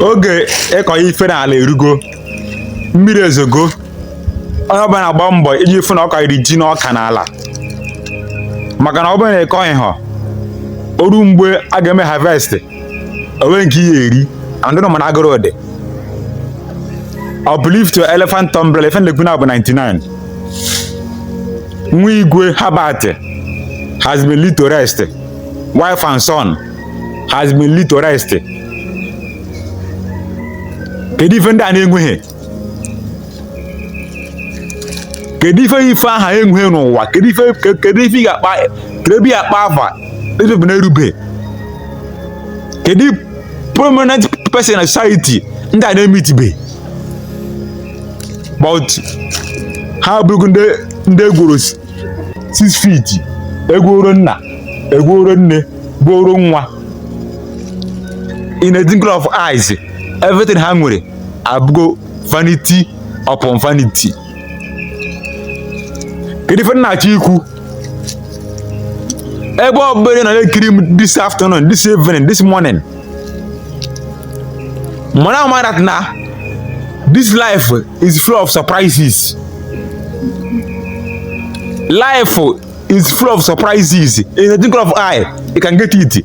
oge ịkọ ife n'ala erugo mmiri ezogo onye ọbụla na-agba mbọ iji fụ na ọ kọrọ ji na ọka n'ala maka na ọ bụrụ na ị kọghị ha o ruo mgbe a ga-eme harvest o nwe nke ị ya-eri and ụnụ ma na agụrụ dị uplift your elephant umbrella ife nlekwu na bụ 99 Wigwe Herbert has been laid to rest wife and son has been laid to rest kedu ife ndị a na-enweghị kedu ife ife a ha enwe n'ụwa kedu ife kedu ife ị ga-akpa kedu ebe ị akpa afa ebe bụ na-erube kedu prominent person na society ndị a na-emeetibe but ha abụrụgo ndị ndị e gwuoro six feet e gwuoro nna e gwuoro nne gwuoro nwa in a twinkle of eyes everything ha nwere abụgo vanity upon vanity kedu ife nna-achọ ikwu ebe ọ bụla na ekiri m this afternoon this evening this morning mana ama that na this life is full of surprises life is full of surprises in the twinkle of eye you can get it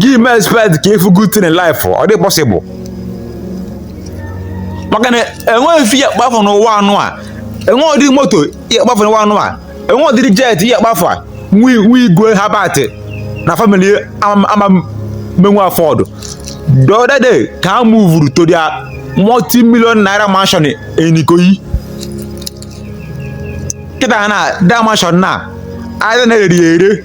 gị mee expect ka every good thing in life ọ dị possible maka na enweghị ife ị ya-akpa afa n'ụwa anụ a enweghị ụdị moto ị ya-akpa afa n'ụwa anụ a enweghị ụdịrị jet ị ya-akpa afa a nwa Wigwe Herbert na family ama ama emenwu afford the other day ka ha muvuru to their multi million naira mansion in Ikoyi kịta ha na da mansion na aja na-ere ere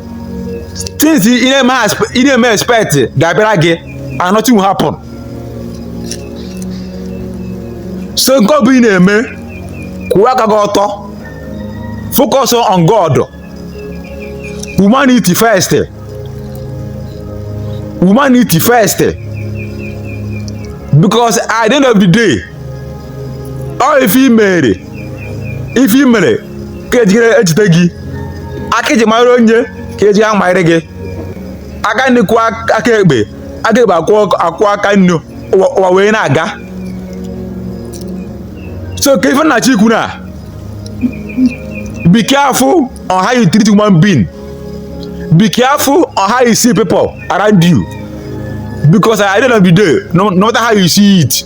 things ị na-eme aspe- ị na-eme expect ga-abịara gị and nothing will happen so nke ọ bụ ị na-eme kwụwa aka gị ọtọ focus on God humanity first humanity first because at the end of the day ọ ife i mere ife i mere ka ejigere ejide gị aka i ji mara onye ka eji ya manyere gị aka nri kwọọ aka ekpe aka ekpe akwọọ aka nri ụwa wee na-aga so ka ife m na-achọ ikwu na be careful on how you treat human being be careful on how you see people around you because at the end of the day no, no matter how you see it